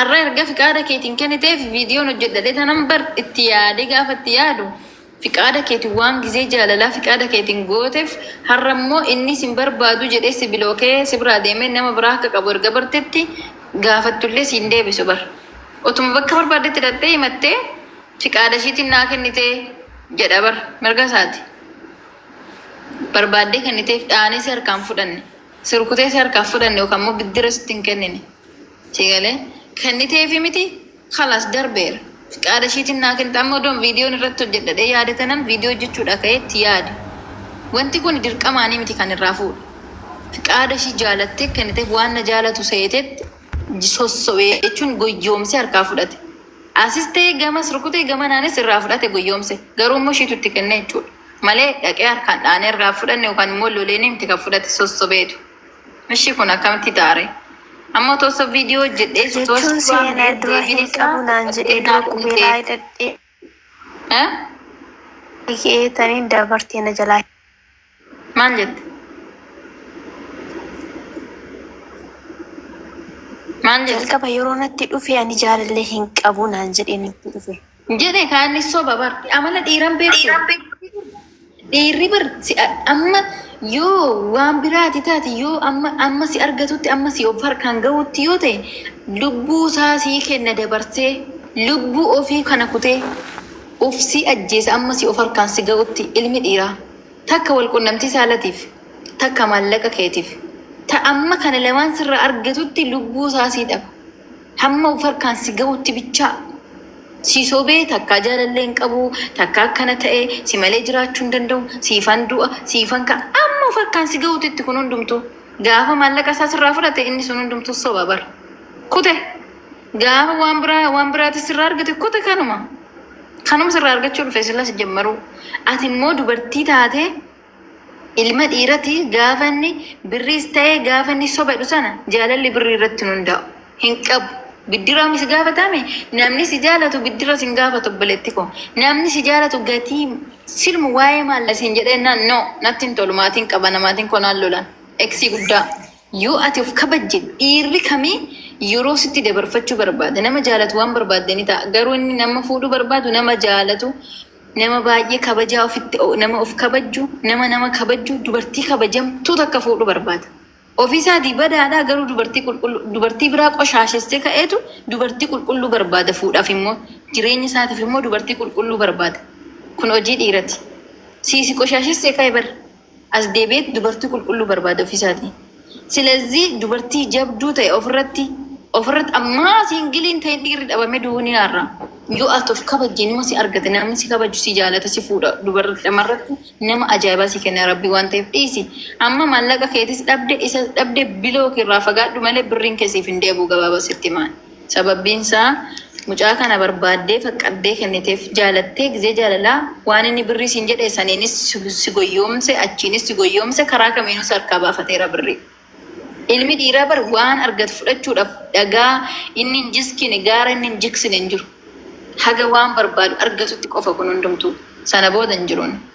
Arra erga fiqaada keetiin keniteef vidiyoon hojjedha dhetanan bar itti yaade gaafa itti yaadu fiqaada keetiin waan gizee jaalalaa fiqaada keetiin gootef harra immoo inni sin barbaadu jedhee si bilookee sibraa deeme nama biraa akka qabu erga bartetti gaafattullee siin deebisu bar otuma bakka barbaaddetti dhaqxee himattee fiqaada ishiitiin naa kennite jedha bar mirga isaati barbaaddee kenniteef dhaanee si harkaan fudhanne si rukutee si harkaaf fudhanne yookaan immoo biddira sitti hin kennine. Sii galee? Kenniteefi miti? Khalas darbeera. Fiqaada ishiitiin naa kennite. Amma odoon viidiyoon irratti hojjedha jedhee yaade tanan viidiyoo hojjechuudhaa ka'ee itti yaade. Wanti kuni dirqamaanii miti kan irraa fuudhe. Fiqaada ishii jaalattee kenniteef waan na jaalatu seetetti j- sossobe jechuun goyyoomsee harkaa fudhate. Asis ta'ee gamas rukutee gamanaanis irraa fudhate goyyoomse. Garuu immoo ishiitu itti kenne jechuudha. Malee dhaqee harkaan dhaanee irraa hin fudhanne yookaan immoo loleenii miti kan fudhate sossobeetu. Ishi kun akkamitti taare? Amma otoo osoo viidiyoo hojjedhee si osoo jechuun si waan seenaa dura deebiin hin isaa qabu naan jedhee dura qulqullinaadha qubeelaa miti. hidhadhee Eh? hiikee taniin dabartee na jalaa Maal jette? Maal jette? jalqaba yeroo natti dhufe ani jaalallee hin qabu naan jedhee natti dhufe. Jedhe kaanni soba bar. Amala dhiiran beektu. Dhiirri bar si- amma yoo waan biraati taate yoo amma amma si argatutti amma si of harkaan gahutti yoo ta'e lubbuu isaa sii kenna dabarsee lubbuu ofii kana kutee of si ajjeesa amma si of harkaan si gahutti ilmi dhiiraa takka wal qunnamtii saalatiif takka maallaqa keetiif ta amma kana lamaan sirra argatutti lubbuu isaa sii dhaba. Hamma of harkaan si gahutti bichaa. Sii sobee takkaa jaalallee hin qabu, takkaa akkana ta'e, si malee jiraachuu hin danda'u, siifan du'a, siifan ka'a. Hamma of harkaan si gahutitti kun hundumtuu. Gaafa maallaqa isaa sirraa fudhate inni sun hundumtuu soba bara. Kute. Gaafa waan biraa waan biraatis sirraa argate kute kanuma. Kanuma sirraa argachuu dhufe sila sijammaruu. Ati immoo dubartii taatee Ilma dhiirati gaafa inni birriis ta'ee gaafa inni sobadhu sana jaalalli birrii irratti hin hundaa'u. Hin qabu. Biddiraami si gaafatame namni si jaalatu biddira sin gaafatu obboleetti koo. Namni si jaalatu gatii silmu waa'ee maallaqa siin jedhee jennaan no natti hin tolu maatiin qaba namaatiin koo naan lolan. Eksii guddaa. Yoo ati of kabajje dhiirri kami yeroo sitti dabarfachuu barbaada. Nama jaalatu waan barbaadde ni ta'a. Garuu inni nama fuudhuu barbaadu nama jaalatu Nama baay'ee kabajaa ofitti o- nama of kabajju, nama nama kabajju, dubartii kabajamtuu takka fuudhu barbaada. Ofii isaatii badaadhaa garuu dubartii qulqulluu, dubartii biraa qoshaashessee ka'eetu dubartii qulqulluu barbaada fuudhaaf immoo. Jireenya isaatiif immoo dubartii qulqulluu barbaada. Kun hojii dhiirati. Siisi qoshaashessee ka'e bar. as deebi'eet dubartii qulqulluu barbaada ofiisaatii. Silazii dubartii jabduu ta'e ofirratti ofirratti ammaa siingiliin ta'e dhiirri dhabame duuniyaarra yoo ati of kabajje nama si argate namni si kabaju si jaalata si fuudha dubarri dhamarratti nama ajaa'ibaa si kenna rabbii waan ta'eef dhiisi amma maallaqa keetis dhabde isa dhabde biloo keerraa fagaadhu malee birriin kee siif hin deebi'u gabaabaa sitti himaan. Sababbiin isaa mucaa kana barbaaddee faqqaddee kenniteef jaalattee gizee jaalalaa waan inni birrii siin jedhe saniinis si goyyoomse achiinis si goyyoomse karaa kamiinuu si harkaa baafateera birrii. Ilmi dhiiraa bar waan argatu fudhachuudhaaf dhagaa inni hin jiskine gaara inni hin jiksine hin jiru. Haga waan barbaadu argatutti qofa kun hundumtuu. Sana booda hin jiruun.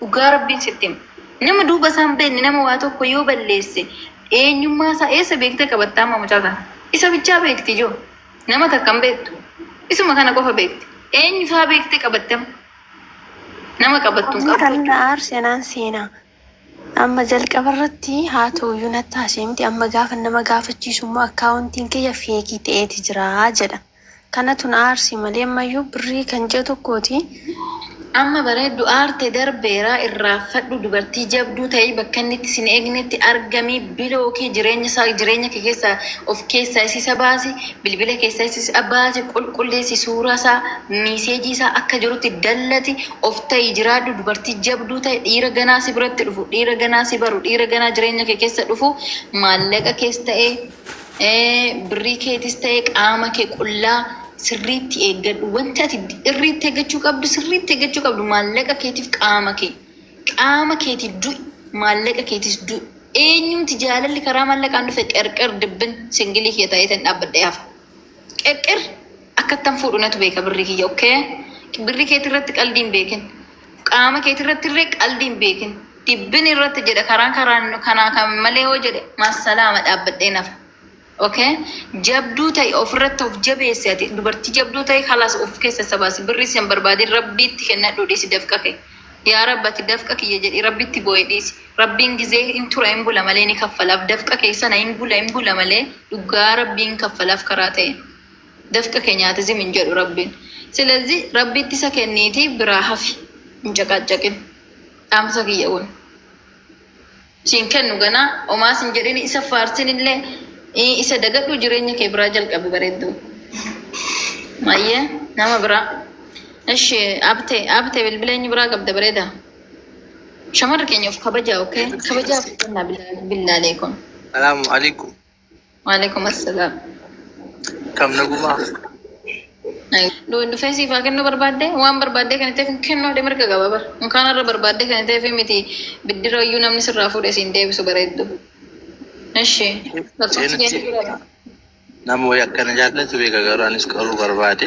Dhugaa Rabbiin sitti hima. Nama duuba isaa hin beekne nama waa tokko yoo balleesse eenyummaa isaa eessa beektee qabatta amma mucaa kana? Isa bichaa beekti ijoo. Nama takka hin beektu. Isuma kana qofa beekti. Eenyu isaa beektee qabatte amma? Nama qabattu hin Kan qabdu. na aarse naan seenaa. Amma jalqaba irratti haa ta'u iyyuu natti haasa'e miti. Amma gaafa nama gaafachiisu immoo akkaawuntiin kiyya feekii ta'eeti jira jedha. Kanatu na aarse malee ammayyuu birrii kan ji'a tokkooti. Amma bareeddu aarte darbeera irraanfadhu dubartii jabduu ta'i bakka inni itti sin eegnetti argami bilooki jireenya isaa jireenya kee keessa of keessaa isiisa baasi bilbila keessaa isiisa baasi qulqulleessi suuraa isaa miiseejii isaa akka jirutti dallati of ta'i jiraadhu dubartii jabduu ta'i dhiira ganaa si biratti dhufu dhiira ganaa si baru dhiira ganaa jireenya kee keessa dhufu maallaqa kees ta'ee Birrii keetis ta'e qaama kee qullaa sirriitti eeggadhu. Wanti ati irriitti eeggachuu qabdu sirriitti eeggachuu qabdu maallaqa keetiif qaama kee. Qaama keetiif du'i maallaqa keetis du'i. Eenyumti jaalalli karaa maallaqaan dhufe qerqer dibbin singilii kee ta'ee tan dhaabbadhee hafa. Qirqir akkattan fuudhu natu beeka birrii kiyya okkee. Birri keetii irratti qaldii hin beekin. Qaama keetii irratti illee qaldii hin beekin. Dibbin irratti jedhe karaan karaan kanaa kan malee yoo jedhe massalaama dhaabbadhee nafa. Okay? Jabduu ta'i ofirratti of jabeessi ati dubartii jabduu ta'i kalaas of keessa sabaasi birri sin barbaadin rabbiitti kennadhu dhiisi dafqa kee. Yaa Rabbi ati dafqa kiyya jedhi Rabbitti booyi dhiisi. Rabbiin gizee hin tura hin bula malee ni kaffalaaf dafqa kee sana hin bula hin bula malee dhugaa Rabbiin hin kaffalaaf karaa ta'een. Dafqa kee nyaate zim hin jedhu Rabbiin. Silazii Rabbiitti isa kenniitii biraa hafi hin caqaacaqin. Dhaamsa kiyya kun. siin kennu ganaa omaa sin jedhini isa faarsin illee ii, isa dagadhuu jireenya kee biraa jalqabi bareeddu mayyee nama biraa ishi abte abte bilbila eenyu biraa qabda bareeda shamarri keenya of kabajaa okay kabajaaf kennaa billaalee kun Salaamu alaikum. Waalaikum assalam. Kam nagumaa. Dhufee siif haa kennuu barbaaddee waan barbaaddee kan ta'eef kennuu haadha mirga qaba bara. Mukaan irra barbaaddee kan ta'eef miti biddira iyyuu namni sirraa fuudhe siin deebisu bareeddu. Eshi. Nama wayii akkana jaallatu beeka garuu anis qaruu barbaade.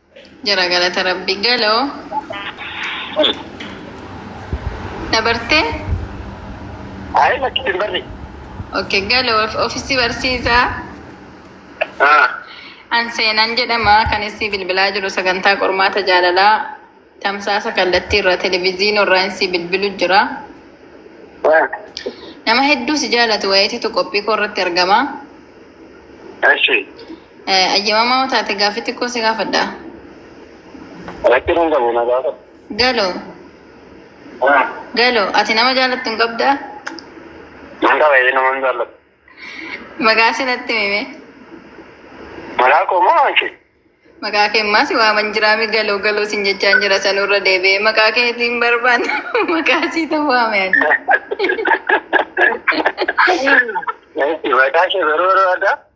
Jira galata rabbi galo dabarte Ayi lakki hin barri. okay galo ofisi barsiisa Ah. an seenan jedhama kan isii bilbilaa jiru sagantaa qormaata jaalalaa tamsaasa kallattii irraa televiziinii irraa isii bilbilu jira Ah. nama hedduu si jaalatu wayiititu qophii koo irratti argama Ashi. Ayyamamaa yoo taate gaaffii xiqqoo si gaafadha. Rakkin hin qabu na gaafadhu. Galoo, Ah, galoo, ati nama jaalattu hin qabdaa? Nan qaba ee nama hin jaalladhu. Maqaa si natti himime. Maqaa koo moo waan kee? Maqaa kee ammaa si waaman jiraami galoo galoo sin jechaan jira sanurra deebi'ee maqaa keetii hin barbaanne maqaa sii ta'u waame ani. Maqaa kee garuu barbaaddaa?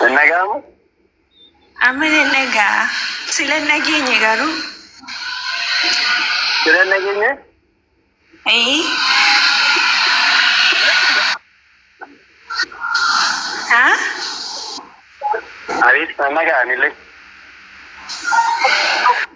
Hin dhaga'amu? Amma nan dhaga'a. Sila hin dhageenye garuu. Sila hin dhageenye? Ee. Haa? Ariif nan dhaga'a anillee.